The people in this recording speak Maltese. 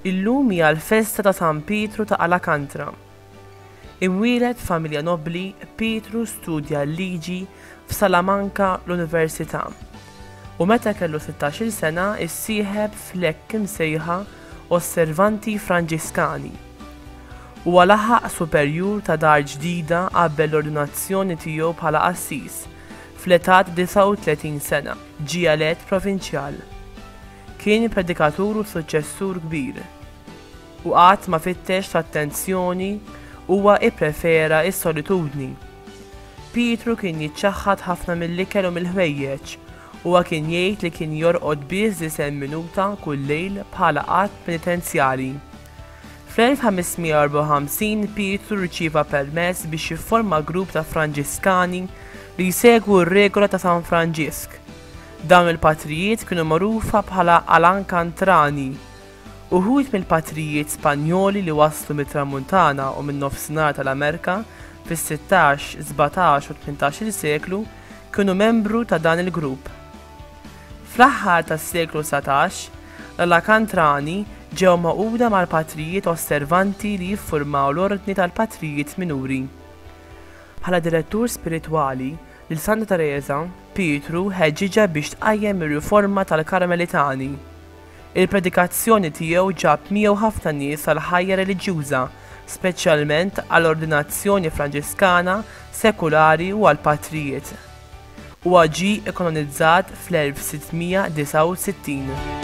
Illum hija l-festa ta' San Pietru ta' Alakantra. Imwieled f'familja nobbli, Pietru studja l-liġi f'Salamanka l-Università u meta kellu 16-il sena issieħeb fl-hekk imsejħa Osservanti Franġiskani. Huwa laħaq superjur ta' dar ġdida qabel l-ordinazzjoni tiegħu bħala qassis, fl-età ta' 39 sena, ġie elett provinċjal. Kien predikatur u suċċessur kbir, u qatt ma fittex l-attenzjoni, huwa pprefera s-solitudni. Pietru kien jiċċaħħad ħafna mill-ikel u mill-ħwejjeġ, Huwa kien jgħid li kien jorqod biss disgħin minuta kull lejl bħala att penitenzjali. Fl-1554 Pietru rċieva permess biex jifforma grupp ta' Franġiskani li jsegwu r-regola ta' San Franġisk. Dawn il-patrijiet kienu magħrufa bħala Alankantrani. Uħud mill-patrijiet Spanjoli li waslu mit-Tramuntana u min-Nofsinhar tal-Amerika fis-sittax, sbatax u tmintax-il seklu kienu membru ta' dan il-grupp. Fl-aħħar tas-seklu dsatax, l-Alakantrani ġew magħquda mal-patrijiet Osservanti li jiffurmaw l-Ordni tal-Patrijiet Minuri. Bħala direttur spiritwali, lil Santa Tereża, Pietru ħeġġiġha biex tqajjem ir-riforma tal-Karmelitani. Il-predikazzjoni tiegħu ġab miegħu ħafna nies għall-ħajja reliġjuża, speċjalment għall-ordinazzjoni Franġiskana sekulari u għall-patrijiet. Huwa ġie kkanonizzat fl-1669.